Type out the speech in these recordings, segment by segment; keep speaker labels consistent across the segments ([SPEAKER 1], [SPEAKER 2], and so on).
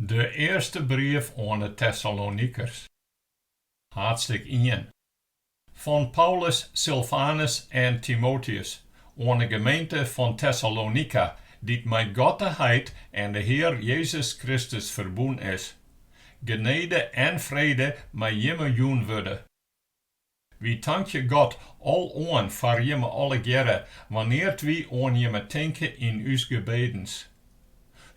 [SPEAKER 1] De earste brief oan 'e Tessalonikers, haadstik ien, fan Paulus, Silfanus en Timóteüs oan 'e gemeente fan Tessalonika, dy't mei God de Heit en de Hear Jezus Kristus ferbûn is. Genede en frede mei jimme jûn wurde. Wy tankje God aloan foar jimme allegearre wannear't wy oan jimme tinke yn ús gebedens.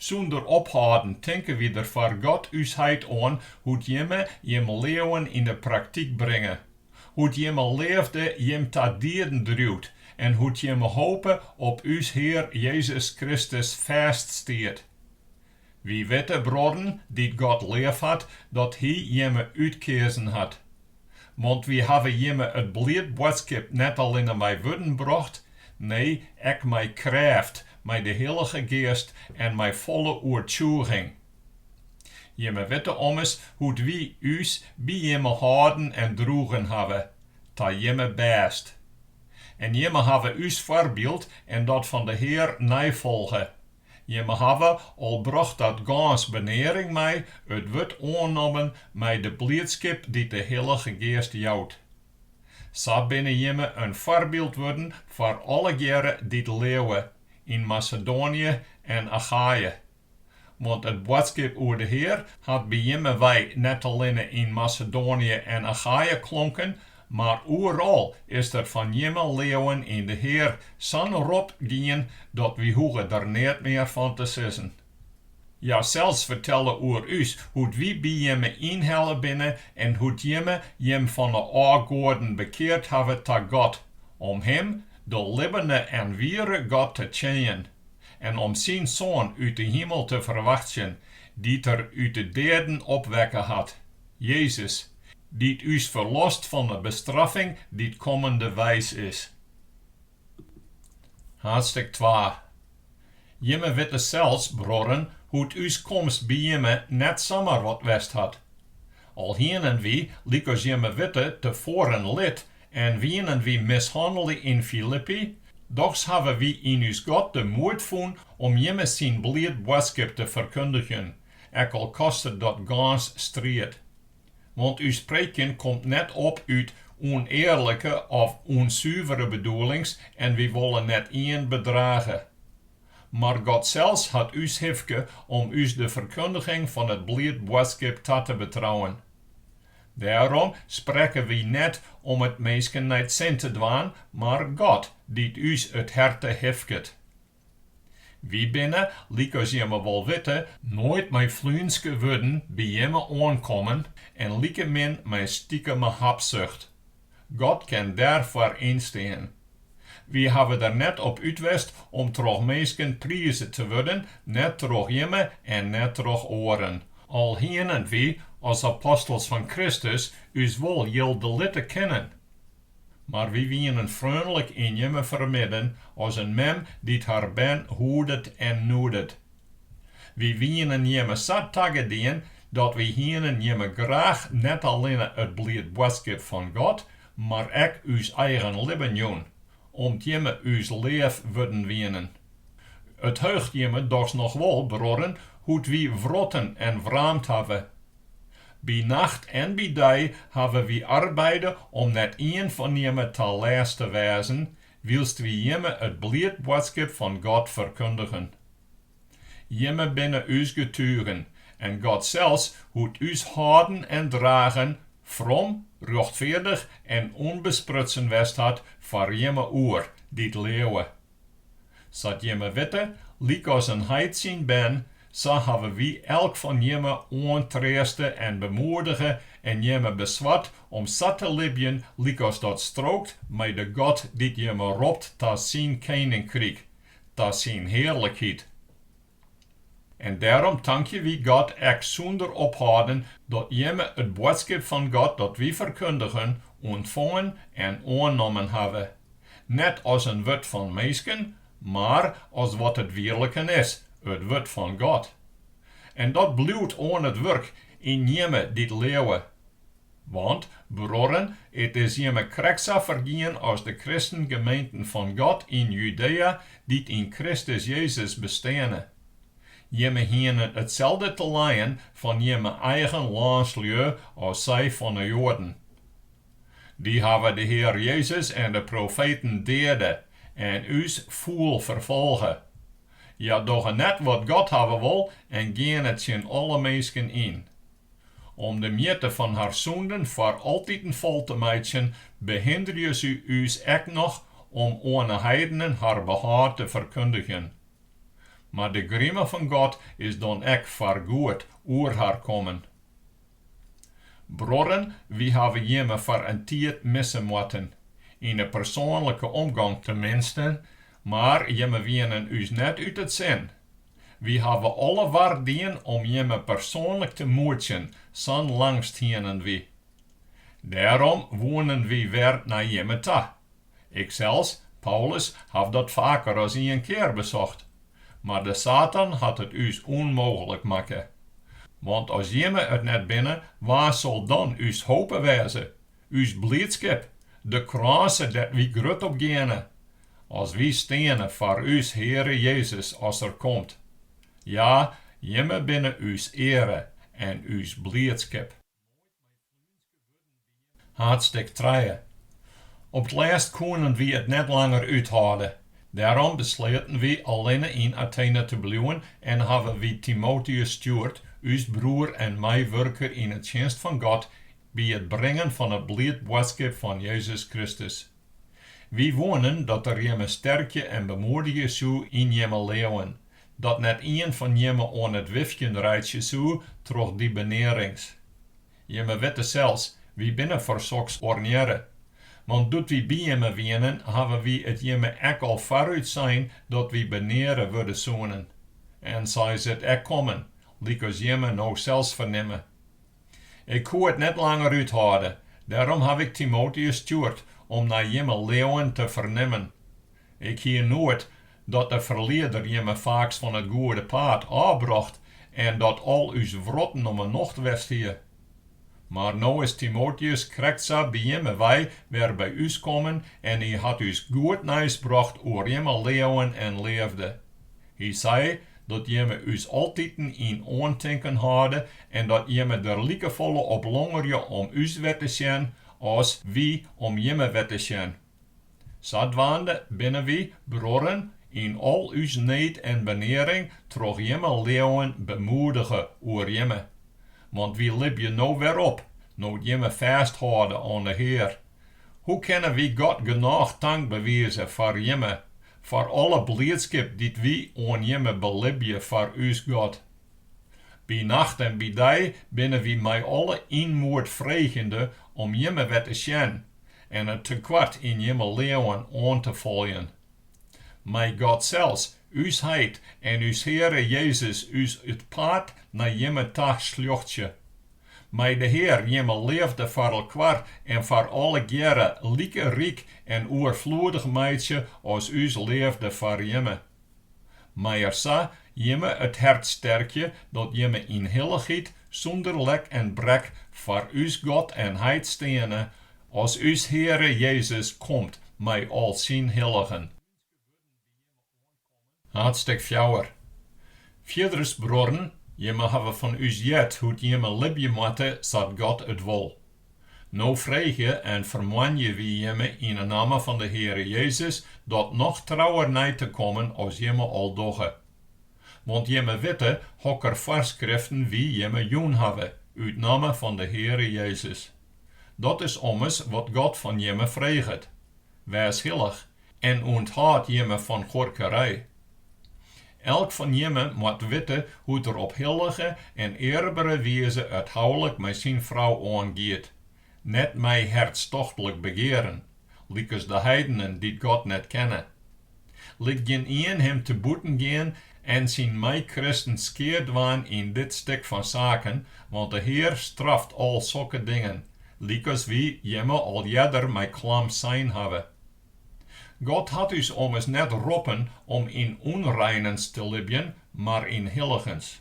[SPEAKER 1] Sûnder ophâlden tinke wy der foar God ús Heit oan hoe't jimme jim leauwen yn 'e praktyk bringe, hoe't jimme leafde jim ta dieden driuwt en hoe't jimme hope op ús Hear Jezus Kristus fêststiet. Wy witte, bruorren, dy't God leafhat, dat Hy jimme útkeazen hat. Want wy hawwe jimme it bliid boadskip net allinne mei wurden brocht, nee, ek mei krêft, mei de Hillige Geast en mei folle oertsjûging. Jimme witte ommers hoe't wy ús by jimme hâlden en droegen hawwe, ta jimme bêst. En jimme hawwe ús foarbyld en dat fan de Hear neifolge, Jimme hawwe al brocht dat gâns benearing mei it wurd oannommen mei de bliedskip dy't de Hillige Geast jout. Sa binne jimme in foarbyld wurden foar allegearre dy't leauwe yn Masedoanje en Achaje. Want it boadskip oer de Hear hat by jimme wei net allinne yn Masedoanje en Achaje klonken, Mar oeral is der fan jimme leauwen yn de Hear sa'n rop gien dat wy hoege der neat mear fan te sizzen. Hja sels fertelle oer ús hoe't wy by jimme ynhelle binne en hoe't jimme jim fan 'e ôfgoaden bekeard hawwe ta God, om Him, de libbene en wiere God, te tsjinjen en om Syn Soan út 'e himel te ferwachtsjen, dy't Er út 'e deaden opwekke hat. Jezus, dy't ús ferlost fan 'e bestraffing dy't kommendeweis is. Haadstik twa. Jimme witte sels, bruorren, hoe't ús komst by jimme net samar wat west hat. Al hienen wy, lykas jimme witte, tefoaren lit en wienen wy mishannele yn Filippi, dochs hawwe wy yn ús God de moed fûn om jimme syn bliid boadskip te ferkundigjen, ek al koste dat gâns striid. Want ús preekjen komt net op út ûnearlike of ûnsuvere bedoelings en wy wolle net ien bedrage. Mar God sels hat ús hifke om ús de ferkundiging fan it bliid boadskip ta te betrouwen. Dêrom sprekke wy net om it minsken nei it sin te dwaan, mar God, dy't ús it herte hifket. Wy binne, lykas jimme wol witte, noait mei fluenske wurden by jimme oankommen en likemin mei stikeme habsucht. God kin dêrfoar ynstean. Wy hawwe der net op út west om troch minsken prize te wurden, net troch jimme en net troch oaren, al hienen wy, as apostels fan Kristus, ús wol jilde litte kinnen. Mar wy wienen freonlik yn jimme fermidden as in mem dy't har bern hoedet en noedet. Wy wienen jimme sa tagedien dat wy hienen jimme graach net allinne it bliid boadskip fan God, mar ek ús eigen libben jûn, om't jimme ús leaf wurden wienen. It heucht jimme dochs noch wol, bruorren, hoe't wy wrotten en wraamd hawwe By nacht en by dei hawwe wy arbeide om net ien fan jimme ta lêst te wêzen, wylst wy jimme it bliid boadskip fan God ferkundigen. Jimme binne ús getugen, en God sels hoe't ús hâlden en dragen, from, rjochtfeardich en ûnbesprutsen west hat foar jimme oer, dy't leauwe. Sa't jimme witte, lykas in heit syn bern, sa hawwe wy elk fan jimme oantreaste en bemoedige en jimme besward om sa te libjen lykas dat strookt mei de God dy't jimme ropt ta syn keninkryk, ta syn hearlikheid. En dêrom tankje wy God ek sûnder ophâlden dat jimme it boadskip fan God dat wy ferkundigen, ûntfongen en oannommen hawwe, net as in wurd fan minsken, mar as wat it wierliken is, it Wurd fan God. En dat bliuwt oan it wurk yn jimme dy't leauwe, Want, bruorren, it is jimme krekt sa fergien as de kristengemeenten fan God yn Judea dy't yn Kristus Jezus besteane. Jimme hienen itselde te lijen fan jimme eigen lânslju as sy fan de Joaden. Dy hawwe de Hear Jezus en de profeten deade en ús fûl ferfolge. Hja dogge net wat God hawwe wol en geane tsjin alle minsken yn. Om de mjitte fan har sûnden foar altiten fol te meitsjen, behinderje se ús ek noch om oan 'e heidenen har behâld te ferkundigjen. Mar de grime fan God is dan ek foargoed oer har kommen. Bruorren, wy hawwe jimme foar in tiid misse moatten, yn 'e persoanlike omgong teminsten, mar jimme wienen ús net út it sin. Wy hawwe alle war dien om jimme persoanlik te moetsjen, sa'n langst hienen wy. Dêrom woenen wy wer nei jimme ta. Iksels, Paulus, haw dat faker as ien kear besocht, mar de Satan hat it ús ûnmooglik makke. Want as jimme it net binne, wa sil dan ús hope wêze? Us bliedskip, de krânse dêr't wy grut op geane, as wy steane foar ús Heare Jezus as Er komt. Ja, Jimme binne ús eare en ús bliedskip. Haadstik trije. Op 't lêst koenen wy it net langer úthâlde. Dêrom besleaten wy allinne yn Athene te bliuwen en hawwe wy Timoteus stjoerd, ús broer en meiwurker yn 'e tsjinst fan God, by it bringen fan it bliid boadskip fan Jezus Kristus. Wy woenen dat er jimme sterkje en bemoedigje soe yn jimme leauwen, dat net ien fan jimme oan it wifkjen reitsje soe troch dy benearings. Jimme witte sels, wy binne foar soks ornearre. Want doe't wy by jimme wienen, hawwe wy it jimme ek al foarút sein dat wy beneare wurde soenen. En sa is it ek kommen, lykas jimme no sels fernimme. Ik koe it net langer úthâlde, dêrom haw ik Timoteus stjoerd om nei jimme leauwen te fernimmen. Ik hie noed dat de ferlieder jimme faaks fan it goede paad ôfbrocht en dat al ús wrotten om 'e nocht west hie. Mar no is Timoteus krekt sa by jimme wei wer by ús kommen en hy hat ús goed nijs brocht oer jimme leauwen en leafde. Hy sei dat jimme ús altiten yn oantinken hâlde en dat jimme der likefolle op longerje om ús wer te sjen as wy om jimme wer te sjen. Sadwaande binne wy, bruorren, yn al ús need en benearing troch jimme leauwen bemoedige oer jimme. Want wy libje no wer op, no't jimme fêsthâlde oan de Hear, Hoe kinne wy God genôch tank bewize foar Jimme, foar alle bliidskip dy't wy oan Jimme belibje foar ús God? By nacht en by dei binne wy mei alle ynmoed freegende om Jimme wer te sjen en it tekoart yn Jimme leauwen oan te foljen. Mei God sels, ús Heit en ús Heare Jezus ús it paad nei Jimme ta slochtsje. Mei de Hear jimme leafde foar elkoar en foar allegearre like ryk en oerfloedich meitsje as ús leafde foar jimme. Mei Er sa jimme it hert sterkje dat jimme yn hilligens sûnder lek en brek foar ús God en Heit steane, as ús Heare Jezus komt mei al Syn hilligen. Haadstêk fjouwer. Fierders, bruorren, jimme hawwe fan ús heard hoe't jimme libje moatte sa't God it wol. No freegje en fermoanje wy jimme yn 'e namme fan de Heare Jezus dat noch trouwer nei te kommen as jimme al dogge. Want jimme witte hokker foarskriften wy jimme jûn hawwe út namme fan de Heare Jezus. Dat is ommers wat God fan jimme freget. wês hillich en ûnthâld jimme fan huorkerij. Elk fan jimme moat witte hoe't er op hillige en earbere wize it houlik mei syn frou oangiet, net mei hertstochtlik begearen, lykas de heidenen dy't God net kenne. Lit gjin ien him te bûten gean en syn meikristen skea dwaan yn dit stik fan saken, want de Hear straft al sokke dingen, lykas wy jimme al earder mei klam sein hawwe. God hat ús ommers net roppen om yn ûnreinens te libjen, mar yn hilligens.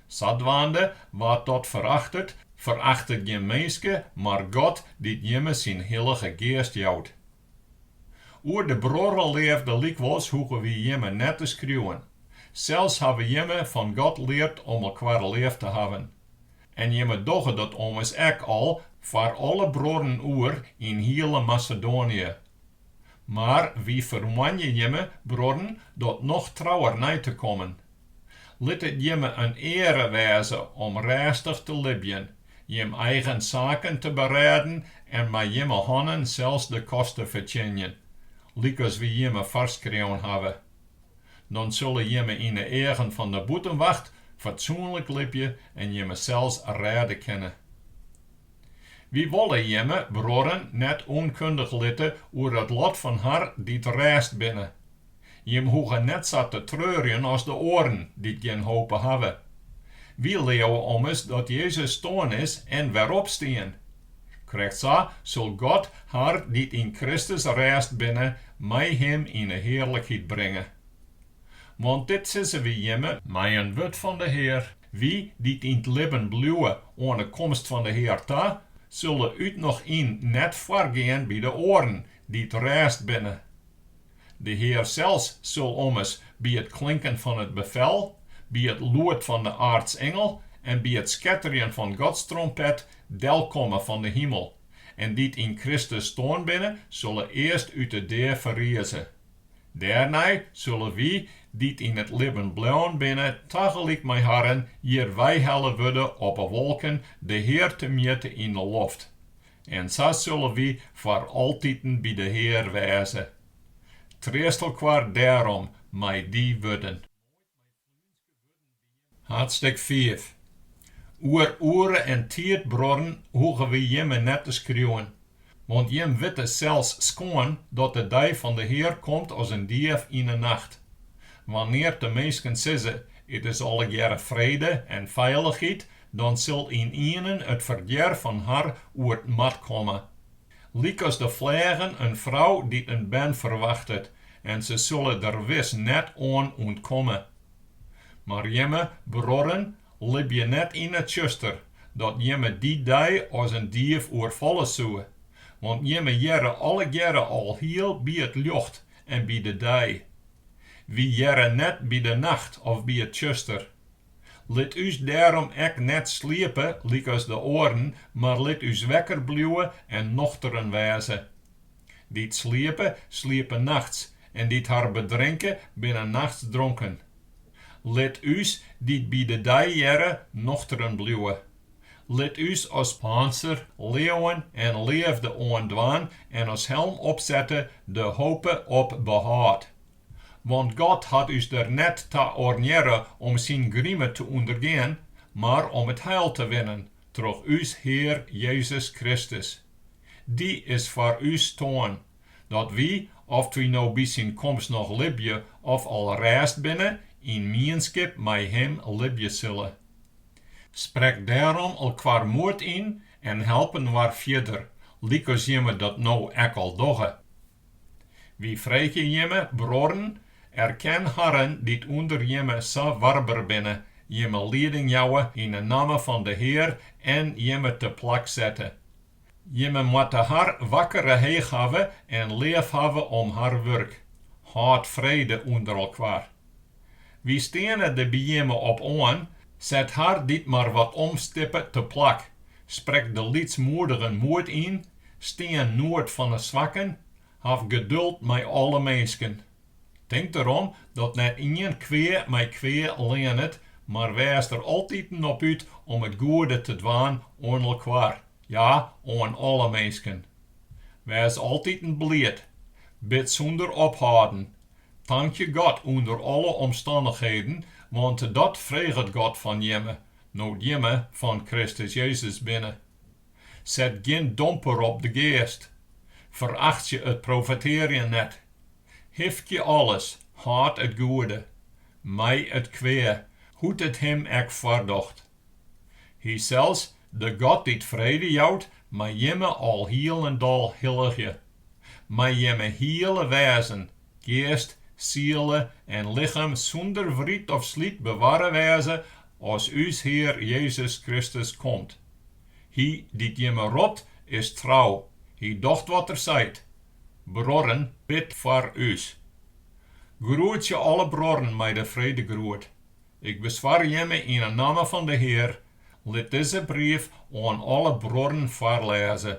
[SPEAKER 1] Sadwaande, wa't dat ferachtet, ferachtet gjin minske, mar God, dy't jimme syn Hillige Geast jout. Oer de bruorreleafde lykwols hoege wy jimme net te skriuwen. Sels hawwe jimme fan God leard om elkoar leaf te hawwen. En jimme dogge dat ommers ek al foar alle bruorren oeral yn hiele Masedoanië. Mar wy fermoanje jimme, bruorren, dat noch trouwer nei te kommen. Lit it jimme in eare wêze om rêstich te libjen jim eigen saken te berêden en mei jimme hannen sels de kost te fertsjinjen, lykas wy jimme foarskreaun hawwe. Dan sille jimme yn 'e eagen fan de bûtenwacht fatsoenlik libje en jimsels rêde kinne. Wy wolle jimme, bruorren, net ûnkundich litte oer it lot fan har dy't rêst binne, Jim hoege net sa te treurjen as de oaren dy't gjin hope hawwe. Wy leauwe ommers dat Jezus stoarn is en weropstien. Krekt sa sil God har dy't yn Kristus rêst binne mei Him yn 'e hearlikheid bringe. Want dit sizze wy jimme mei in wurd fan de Hear. Wy dy't yn 't libben bliuwe oan 'e komst fan de Hear ta, sille út noch yn net foargean by de oaren dy't rêst binne. De Hear sels sil ommers by it klinken fan it befel, by it lûd fan de aartsingel en by it sketterjen fan Gods trompet delkomme fan de himel, en dy't yn Kristus stoarn binne, sille earst út de dea ferrize. Dêrnei sille wy, dy't yn it libben bleaun binne, tagelyk mei harren hjir weihelle wurde op 'e wolken de Hear temjitte yn 'e loft, En sa sulle wy foar altiten by de Hear wêze. Treast elkoar dêrom mei dy wurden. Hadstik fiif. Oer oere en tiid, bruorren, hoege wy jimme net te skriuwen, want jim witte sels skoan dat de dei fan de Hear komt as in dief yn 'e nacht. Wannear't de minsken sizze, It is allegearre frede en feilichheid, dan sil ynienen it ferdjer har oer 't mad komme. Lykas de flagen in frou dy't in bern ferwachtet, en se sille der wis net oan ûntkomme. Mar jimme bruorren libje net yn it tsjuster, dat jimme dy dei as in dief oerfalle soe, want jimme hearre allegearre alhiel by it ljocht en by de dei. Wy hearre net by de nacht of by it tsjuster. Lit ús dêrom ek net sliepe lykas de oaren, mar lit ús wekker bliuwe en nochteren wêze. Dy't sliepe, sliepe nachts, en dy't har bedrinke, binne nachts dronken. Lit ús, dy't by de dei hearre, nochteren bliuwe. Lit ús as pânser leauwen en leafde oandwaan en as helm opsette de hope op behâld. Want God hat ús der net ta oarnearre om syn grime te ûndergean, mar om it heil te winnen troch ús Hear Jezus Kristus. Dy is foar ús stoarn, dat wy, oft wy no by syn komst noch libje of al rêst binne, yn mienskip mei him libje sille. Sprek dêrom elkoar moed yn en help inoar fierder, lykas jimme dat no ek al dogge. Wy freegje jimme, bruorren, erken harren dy't ûnder jimme sa warber binne, jimme lieding jouwe yn 'e namme fan de Hear en jimme teplak sette. Jimme moatte har wakkere heech hawwe en leaf hawwe om har wurk. Hâld frede ûnder elkoar. Wy steane der by jimme op oan, set har dy't mar wat omstippe teplak, sprek de lytsmoedigen moed yn, Stean noed fan 'e swakken, haw geduld mei alle minsken. Tink derom dat net ien kwea mei kwea leanet, mar wês der altiten op út om it goede te dwaan oan elkoar, ja, oan alle minsken. Wês altiten bliid, bid sûnder ophâlden, tankje God ûnder alle omstannichheden, want dat freget God fan jimme, no't jimme fan Kristus Jezus binne. Set gjin domper op de geast. Ferachtsje it profetearjen net. Hifkje alles, hâld it goede, mij it kwea, hoe't it him ek foardocht. Hysels, de God dy't frede jout, mei jimme alhielendal hilligje. Mei jimme hiele wêzen Geast, siele en lichem sûnder wryt of slyt bewarre wêze as ús Hear Jezus Kristus komt. Hy dy't jimme ropt, is trou, hy docht wat er seit. Bruorren, bid foar ús. Groetsje alle bruorren mei de fredegroet. Ik beswar jimme yn 'e namme fan de Hear, lit dizze brief oan alle bruorren foarlêze.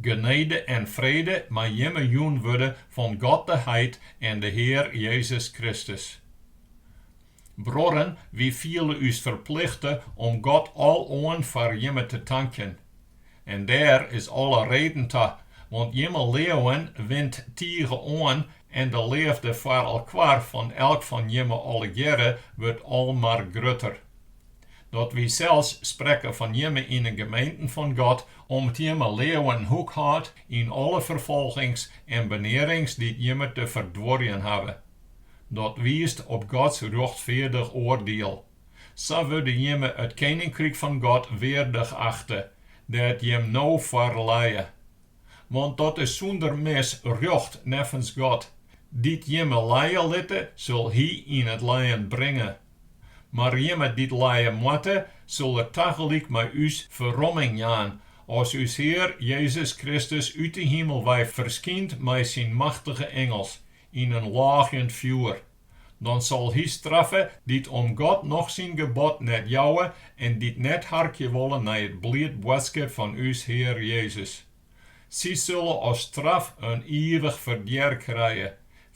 [SPEAKER 1] Genede en frede mei jimme jûn wurde fan God de Heit en de Hear Jezus Kristus. Bruorren, wy fiele ús ferplichte om God aloan foar jimme te tankjen. En dêr is alle reden ta, want jimme leauwen wint tige oan en de leafde foar elkoar fan elk fan jimme allegearre wurdt al mar grutter. Dat wy sels sprekke fan jimme yn 'e gemeenten fan God Om't jimme leauwen hoek hâldt yn alle ferfolgings en benearings dy't jimme te ferduorjen hawwe. Dat wiist op Gods rjochtfeardich oardiel. Sa wurde jimme it keninkryk fan God weardich achte, dêr't jimme no foar lije. Want dat is sûnder mis rjocht neffens God, dy't jimme lije litte sil Hy yn it lijen bringe. Mar jimme dy't lije moatte, sil er tagelyk mei ús ferromming jaan, as ús Hear Jezus Kristus út 'e himel wei ferskynt mei syn machtige ingels, yn in lâgjend fjoer. Dan sil hy straffe dy't om God noch syn gebod net jouwe en dy't net harkje wolle nei it bliid boadskip fan ús Hear Jezus. Sy sille as straf in ivich ferdjer krije,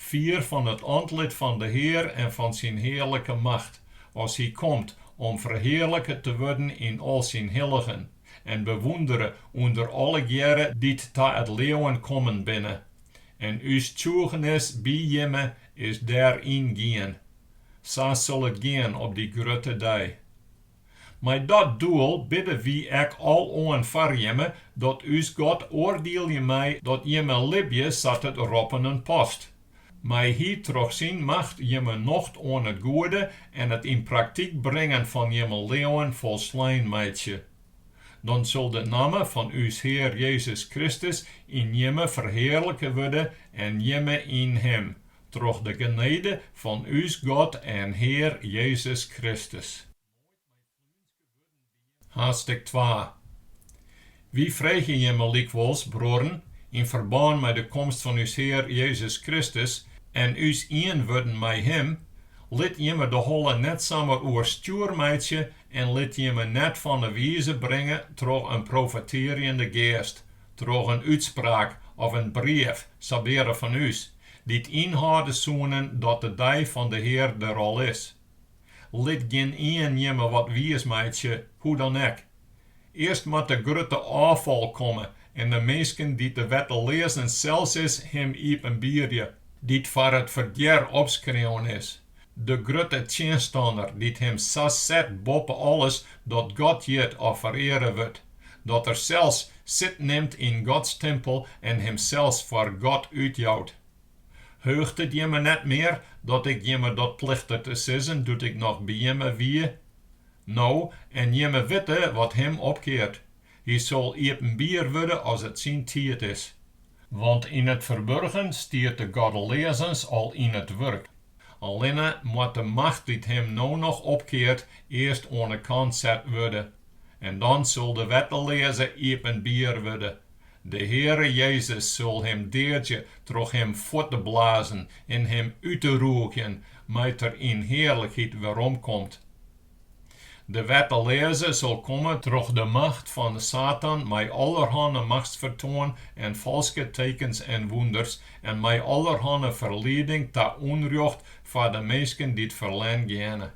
[SPEAKER 1] fier fan it antlit fan de Hear en fan syn hearlike macht, as hy komt om ferhearlike te wurden yn al syn hilligen, en bewûndere ûnder allegearre dy't ta it leauwen kommen binne. En ús tsjûgenis by jimme is dêr yn gien. Sa sil it gean op dy grutte dei. Mei dat doel bidde wy ek aloan foar jimme, dat ús God oardielje mei dat jimme libje sa't it roppenen past. Mei Hy troch syn macht jimme nocht oan it goede en it yn praktyk bringen fan jimme leauwen folslein meitsje. Dan sil de namme fan ús Hear Jezus Kristus yn jimme ferhearlike wurde en jimme yn Him, troch de genede fan ús God en Hear Jezus Kristus. Haadstik twa. Wy freegje jimme lykwols, bruorren, yn ferbân mei de komst fan ús Hear Jezus Kristus en ús ien wurden mei Him, lit jimme de holle net samar oer stjoer meitsje en lit jimme net fan 'e wize bringe troch in profetearjende geast, troch in útspraak of in brief, sabeare fan ús, Dy't ynhâlde soenen dat de dei fan de Hear der al is. Lit gjin ien jimme wat wiis meitsje, hoe dan ek. Earst moat de grutte ôffal komme en de minske dy't de wetteleazens sels is him iepenbierje, dy't foar it ferdjer opskreaun is, de grutte tsjinstanner dy't him sa set boppe alles dat God hjit of fereare wurdt, dat er sels sit nimt yn Gods timpel en himsels foar God útjout. Heucht it jimme net mear dat ik jimme dat plichte te sizzen doe't ik noch by jimme wie? No, en jimme witte wat him opkeart, hy sil iepenbier wurde as it syn tiid is. Want yn it ferburgen stiet de goddeleazens al yn it wurk. Allinne moat de macht dy't him no noch opkeart earst oan 'e kant set wurde. En dan sil de wetteleaze iepenbier wurde. De Heare Jezus sil him deadzje troch him fuort te blazen en him út te rûgjen, mei't er yn hearlikheid weromkomt. De wetteleaze sil komme troch de macht fan Satan mei allerhanne machtsfertoan en falske tekens en wûnders en mei allerhanne ferlieding ta ûnrjocht foar de minsken dy't ferlern geane.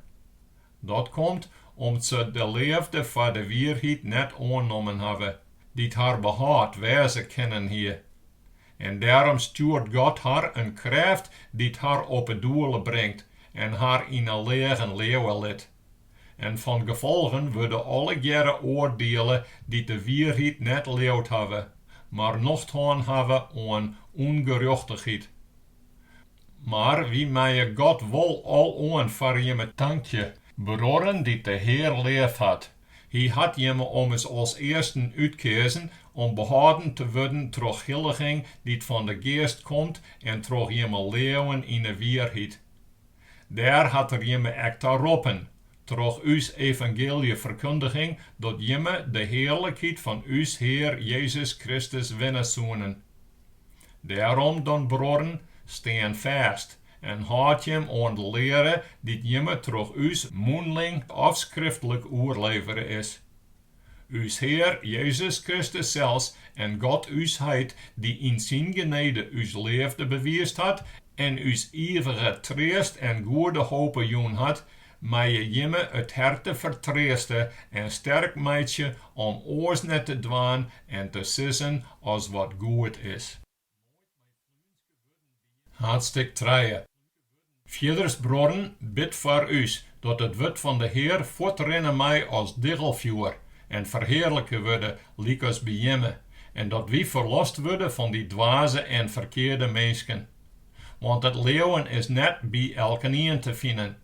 [SPEAKER 1] Dat komt om't se de leafde foar de wierheid net oannommen hawwe, dy't har behâld wêze kinnen hie. En dêrom stjoert God har in krêft dy't har op 'e doele bringt en har yn 'e leagen leauwe lit. En fan gefolgen wurde allegearre oardiele dy't de wierheid net leaud hawwe, mar nocht hân hawwe oan ûngerjochtichheid. Mar wy meie God wol aloan foar jimme tankje, bruorren dy't de Hear leaf hat, Hy hat jimme ommers as earsten útkeazen om behâlden te wurden troch hilliging dy't fan de Geast komt en troch jimme leauwen yn 'e wierheid. Dêr hat Er jimme ek ta roppen, troch ús evangealjeferkundiging, dat jimme de hearlikheid fan ús Hear Jezus Kristus winne soenen. Dêrom dan, bruorren, stean fêst, en hâldt jim oan de leare dy't jimme troch ús mûnling of skriftlik oerlevere is. Us Hear Jezus Kristus sels en God ús Heit, dy't yn syn genede ús leafde bewiisd hat en ús ivige treast en goede hope jûn hat, meie jimme it herte fertreaste en sterk meitsje om oars net te dwaan en te sizzen as wat goed is. Haadstik trije. Fierders bruorren, bid foar ús, dat it wurd fan de Hear fuortrinne mei as diggelfjoer en ferhearlike wurde lykas by jimme, en dat wy ferlost wurde fan dy dwaze en ferkearde minsken. Want it leauwen is net by elkenien te finen.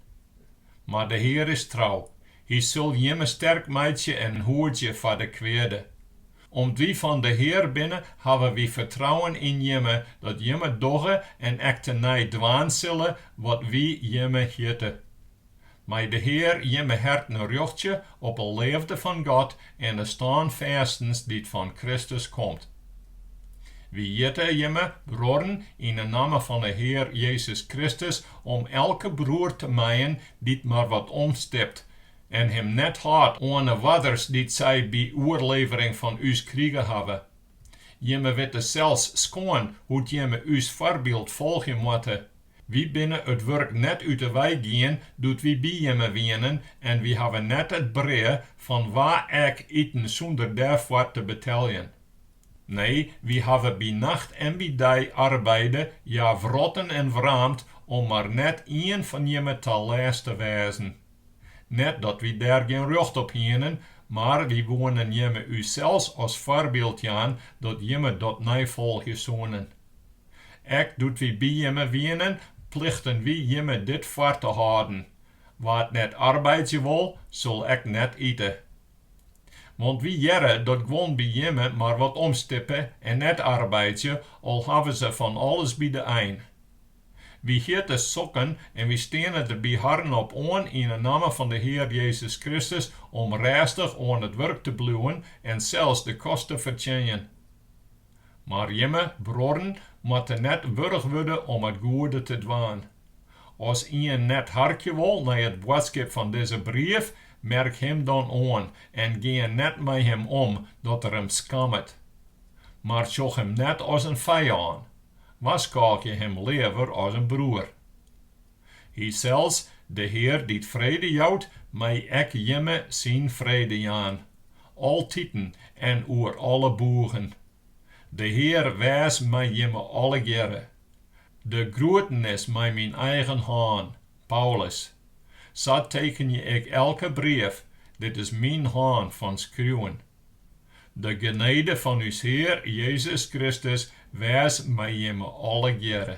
[SPEAKER 1] Mar de Hear is trou, hy sil jimme sterk meitsje en hoedzje foar de kweade. Om't wy fan de Hear binne, hawwe wy fertrouwen yn jimme, dat jimme dogge en ek tenei dwaan sille wat wy jimme hjitte. Mei de Hear jimme herten rjochtsje op 'e leafde fan God en 'e stânfêstens dy't fan Kristus komt. Wy hjitte jimme, bruorren, yn 'e namme fan 'e Hear Jezus Kristus, om elke broer te mijen dy't mar wat omstipt, en him net hâldt oan 'e oarders dy't sy by oerlevering fan ús krige hawwe. Jimme witte sels skoan hoe't jimme ús foarbyld folgje moatte. Wy binne it wurk net út 'e wei gien doe't wy by jimme wienen en wy hawwe net it brea fan wa ek iten sûnder dêrfoar te beteljen. Nee, wy hawwe by nacht en by dei arbeide, ja wrotten en wraamd, om mar net ien fan jimme ta lêst te wêzen. Net dat wy dêr gjin rjocht op hienen, mar wy woenen jimme ússels as foarbyld jaan dat jimme dat neifolgje soenen. Ek doe't wy by jimme wienen, plichten wy jimme dit foar te hâlden, Wa't net arbeidzje wol, sil ek net ite. Want wy hearre dat guon by jimme mar wat omstippe en net arbeidzje, al hawwe se fan alles by de ein. Wy hjitte sokken en wy steane der by harren op oan yn 'e namme fan de Hear Jezus Kristus om rêstich oan it wurk te bliuwen en sels de kost te fertsjinjen. Mar jimme bruorren moatte net wurch wurde om it goede te dwaan. As ien net harkje wol nei it boadskip fan dizze brief, merk him dan oan en gean net mei him om dat er him skammet. Mar sjoch him net as in fijân, warskôgje him leaver as in broer. Hy sels, De Hear dy't frede jout, mei ek jimme syn frede jaan, altiten en oer alle boegen. De Hear wês mei jimme allegearre. De groetenis mei myn eigen hân, Paulus. Sa tekenje ik elke brief, dit is myn hân fan skriuwen. De genede fan ús Hear Jezus Kristus wês mei jimme allegearre.